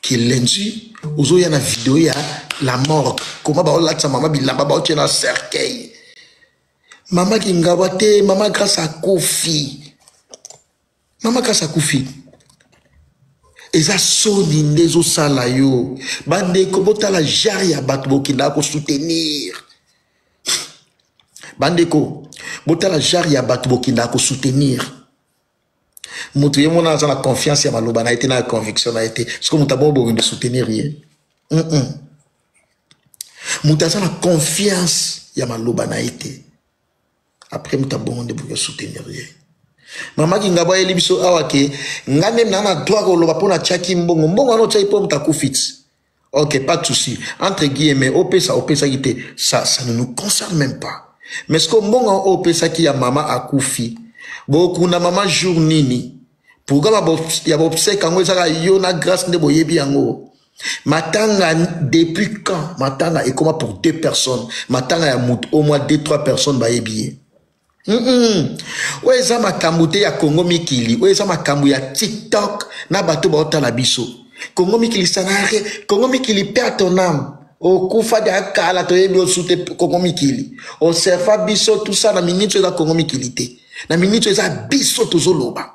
kilenji ozoya na video ya la morgue koma baolatisa mama bilamba baotie na cercueil mama kingawa te mama grâce akufi mama grâce akufi eza soni nde ezosala yo bandeko botala genre ya bato bokendaka kosoutenir bandeko botala genre ya bato bokendaka kosoutenir mutu ye mona aza na confiance ya maloba na ye te na ya conviction na ye te soki moto abongo bokende soutenir ye mm -mm. moto aza na confiance ya maloba na ye te après moto abongo nde bokoki soutenir ye mama kingabo ayeli biso awa ke nga nde na na droit koloba mpo natyaki mbongo mbongo wana otyaki mpo moto akufi ti Ok, pas de souci. Entre guillemets, opesa, opesa qui te, ça, ça ne nous concerne même pas. Mais ce que mbonga opesa qui ya mama akufi, boku na mama jour nini, pourquoi ba ya bopse kango ezaka yo na grâce nde boyebi yango. Matanga depuis quand matanga ekoma pour deux personnes, matanga ya mutu au moins deux trois personnes bayebi ye. Mm -mm. oyo eza makambo te ya kongo mikili oyo eza makambo ya tiktok na bato baotala biso kongo mikili sanare kongo mikili père ton âme okufa dia kala toyebi osu te kongo mikili oserva biso tusa na miniti oyo eza kongo mikili te na miniti oyo eza biso tozoloba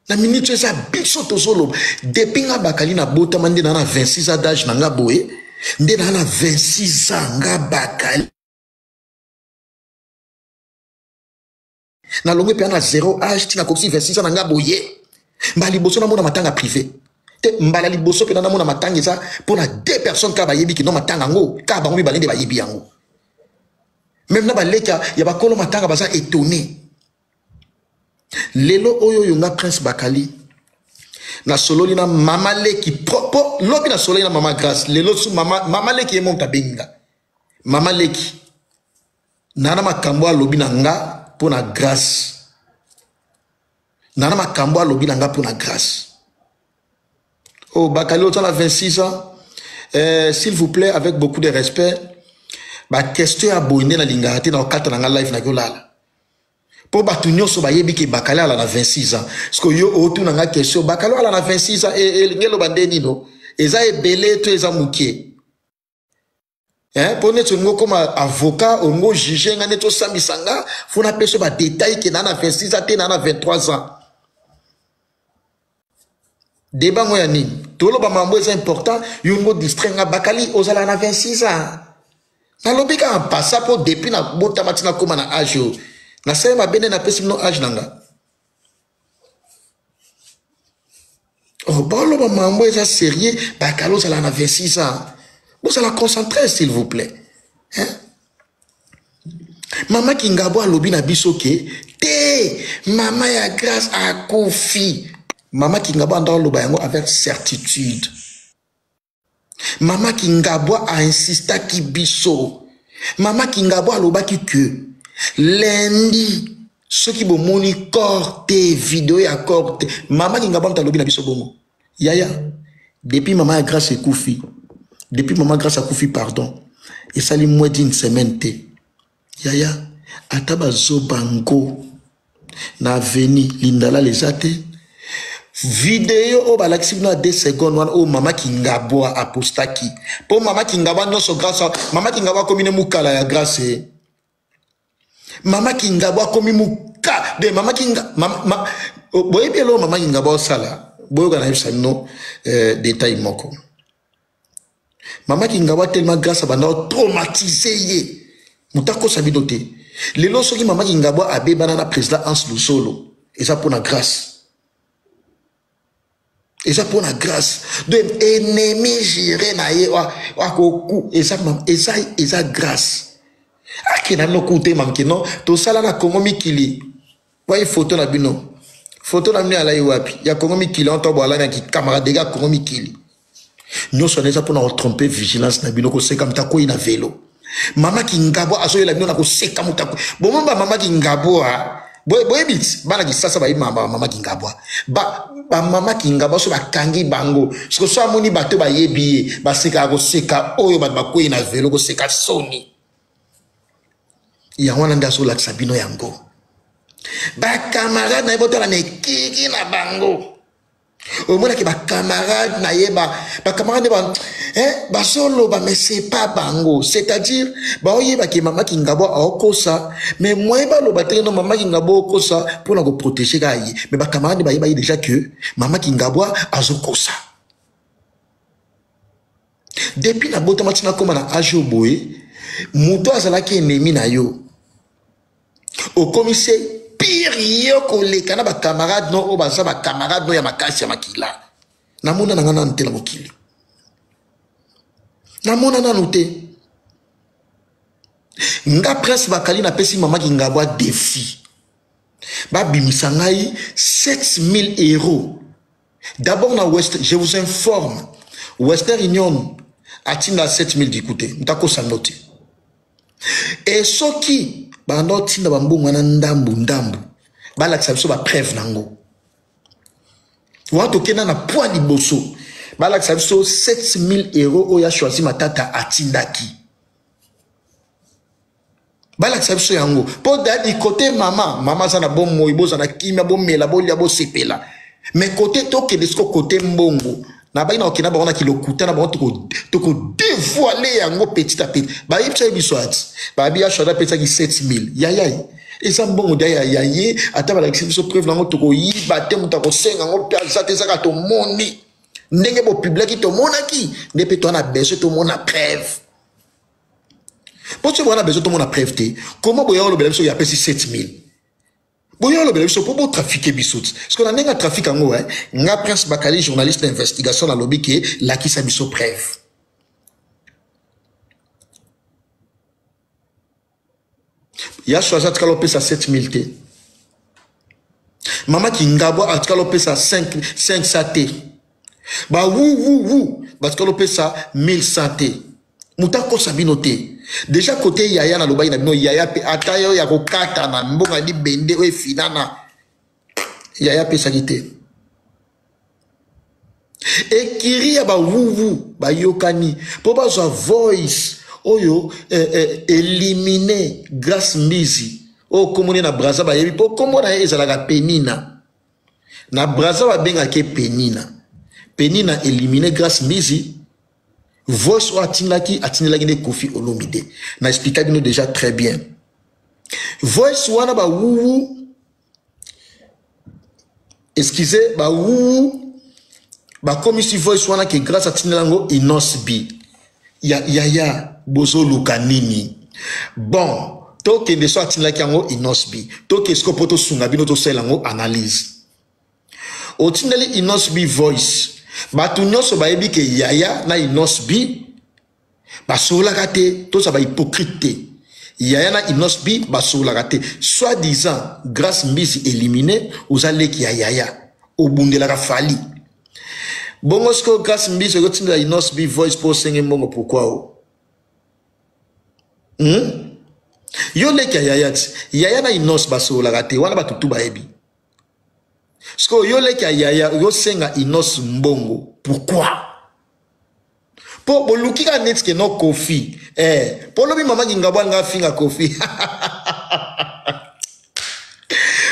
na miniti oyo eza biso tozoloba depi nga bakali nabotama nde naa na 26 a dage na nga boye nde naa na 26 a nga bakali nalongwe mpe na 0 age ntina akokisi 26 ans na nga boye mbala liboso namona matanga privé te mbala liboso mpe namona matanga eza mpo na deux personnes kaka bayebi kino matanga yango kaka bango mibale nde bayebi yango meme na baleka ya bakolo matanga baza etone lelo oyo oyo nga prince bakali nasololi na mama leki po lobi nasololi na mama grace lelo su mama, mama leki ye moto abengi nga mama leki nana makambo alobi na nga mpo na grâce nana makambo alobi na nga mpo na grâce o oh, bakali oza na 26 ans euh, s'il vous plaît avec beaucoup de respect baquestion ya boye nde nalingaka te na kokata na nga live naki olala mpo bato nyonso bayebi ke bakali ala na 26 ans ceke yo otuna nga question bakali ala na 26 ans elingi eh, eh, eloba nde nino eza ebele to eza moke eh, mpo neti olingi okoma avocat olingi ojuge nga neti osambisa nga fo napesa yo badetail ke naa na 26 ans te naa na 23 ans deba ngo ya nini toloba mambo eza important yo ngo distrai nga bakali ozalaka na 26 ans nalobi kaka mpasa mpo depuis nabotama ti nakóma na age oyo nasali mabe nde napesi bino age na nga boloba mambo eza sérieux bakala ozala na 26 ans bozala concentré s'il vous plaît hein? mama kingabo alobi na biso ke te mama ya grâce akufi mama kingabo anda oloba yango avec certitude Mama Kingabwa a insistaki biso. Mama Kingabwa alobaki que lundi soki bomoni corps te video ya corps te mama Kingabwa moto alobi na biso bongo yaya depuis mama ya Grace ekufi depuis mama Grace akufi pardon esali moins d'une semaine te Yaya ata ba zoba ngo na aveni lindalala eza te video oyo balakisi bino ya 2 seconde wana oyo mama kingabwa apostaki mpo mama kingabwa nyonso grace mama kingabwa akomi ne mukala ya grace eh. mama kingabwa akomi muka de mama kinga mama, ma, boyebi eloo mama kingabwa osala boyoka nayebisa bino eh, detail moko mama kingawa tellement grâce abanda otraumatise ye moto akosa bino te lelo soki mama kingabwa abebana na président hans lusolo eza mpona grâce eza mpona grâce de ennemi gire na ye akoku eza, eza, eza grâce akenda nokutema mke non tosala na congo mikili Wai photo na bino. Photo na bino alai wapi? Ya Kongo mikili on tobo alana ki camarade ga Kongo mikili. Nyoso neza pona ko tromper vigilance na bino ko seka mtakoi na velo. Mama kingabo azo yela bino na ko seka mtakoi. Bomo ba mama kingabo a boyebi bana kisasa bayebi bamama kingabwa bamama kingabwa so bakangi bango siko so amoni bato bayebi ye basekaka koseka oyo bato bakwei na velo koseka soni yango wana nde azolakisa bino yango bacamarade na ye botala na ekiki na bango omonaki bacamarade na ye bacamarade ba, eh, bazoloba mais c'est pas bango c'est-à-dire baoyebaki mama kingabo aokosa mais moye baloba te no mama kingabo okosa mpona koprotege ka ye mais bacamarade bayebaki déjà que mama kingabo azokosa Depuis na botama tina koma na age oyo boye, moto azalaki ennemi na yo. Okomi se pire yo koleka na ba camarades no oyo baza ba camarades no ya makasi ya makila. Namona na nga nanu te na mokili. Namona nanu te. Nga Prince Bakali napesi mama Kingabwa defi. Babimisa ngai 7000 euros D'abord na West, je vous informe, Western Union atinda 7000 dikute, mtako sandote. Et soki bando tinda bambongo na ndambu ndambu, balakisa biso ba preuve nango. Wato kenda na poids liboso, balakisa biso 7000 euros oya choisi matata atindaki. balakisa biso yango mpo dadi kote mama mama aza na bomoi boza na kimia bomela bolia bosepela me kote tokende siko kote mbongo na bayi na kokende na bango na kilokuta na bango tokodevoile yango petit a petit bayebi biso yebiso ati babi ya shada apesaki 7000 yayai eza mbongo da ya ya ye ata balakisi biso preuve na yango tokoyiba te moto akosenga yango mpe aza te ezaka tomoni ndenge bopiblaki tomonaki nde mpe toa na besoin tomona preuve mpo soki bowana bezo tomona preuve te koma boya olobela biso ya apesi 7000 boya olobela biso mpo botrafike biso ti parceke na ndenge atrafike yango eh, nga prince bakali journaliste na investigation nalobi ke lakisa biso preuve yaso aza atikala opesa 7000 te mama kingabwa atikala opesa 500 te bawuwuwu batikala opesa 1100 te moto akosa bino te deja kote yaya nalobaki na bino yaya mpe ata yo ya kokatana mbongo ya libende oyo efinana yaya apesaki te ekiri ya bawuwu bayokani mpo bazwa voice oyo eh, eh, elimine grace mbizi oyo nkombo na braza bayebi mpo nkombo na ye ezalaka penina na braza babengaki ye penina penina elimine grace mbizi voice oyo atindaki atindelaki nde kofi olomide na explika bino déjà très bien voice wana bawuwu excusez ba wuu bakomisi voice wana ke grâce atindela yango inos b ya yaya bozoluka nini bon tokende so atindaki yango inos b toke siko mpo tosunga bino tosalela yango analyse otindeli inos b voice bato nyonso bayebi ke yaya na inos b basololaka te toza bahypocrite te yaya na inos b basololaka te soit disant grace mbisi élimine oza leki ya yaya obundelaka fali bongo sikoyo grace mbisi okotindela inos b voice mpo osenge mbongo pourkui o hmm? yo leki ya yaya ti yaya na inos basololaka te wana bato tu bayebi sikoyo yo leki ya yaya osenga inos mbongo pourkui Po boluki kaka neti ke no Koffi. Eh, po lobi mama Kingabo alinga afinga Koffi.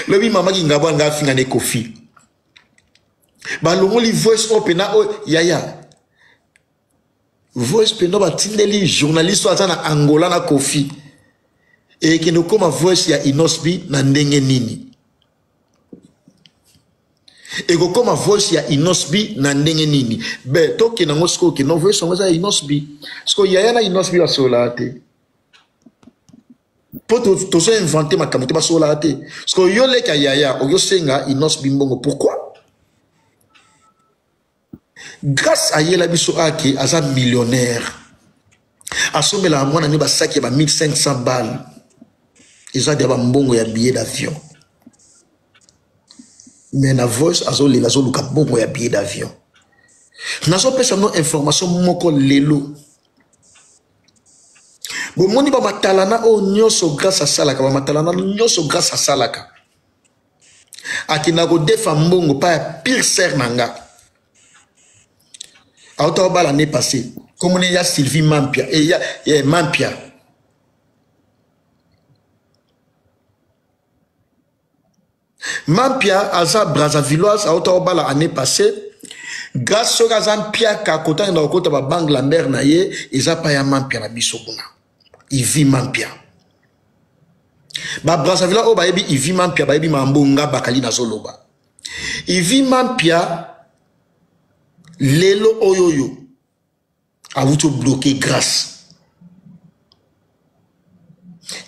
lobi mama Kingabo alinga afinga ne Koffi. Balongoli voice oyo pena oyo yaya. Voice pena batindeli journaliste oyo aza na Angola na Koffi. Ekende okoma voice ya Inosbi na ndenge nini? ekokoma voice ya inosbi na ndenge nini be tokende yango sikoyo kino voice yango eza ya inosbi sikoyo yaya na inosbi basololaka te mpo tozo invente makambo te basololaka te sikoyo yo leki ya yaya okosenga inosbi mbongo pourquoi grace ayela biso ake aza millionnaire asombelaka mwana ne basaki ya ba 1500 balle eza dia bambongo ya billet d'avion me na voice azolela azoluka mbongo ya billet d'avion nazopesa no information moko lelo bomoni bamatalana oyo nyonso grace asalaka bamatalana nyonso grace asalaka akenda kodefa mbongo pa ya pire sere na nga auta obala ne passé komona ya sylvie mampia eya eh, eh, mampia mampia aza brazavilloise auta obala année passée grâce soki aza mpiaka kotanga na kokota babange lambert na ye eza pa ya mampia na biso kuna ivi mampia ba brazzaville oyo bayebi ivi mampia bayebi mambo nga bakali nazoloba ivi mampia lelo oyo oyo awuti obloke grace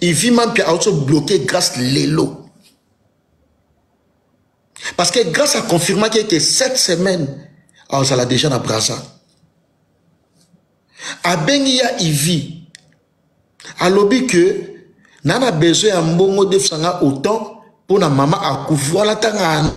ivi mampia awuti obloke grace lelo parce que grace aconfirmaki ete cette semaine azala déjà na braza abengi ya ivi alobi ke na na besoin ya mbongo defisa nga autant mpo na mama akufi wana ntanga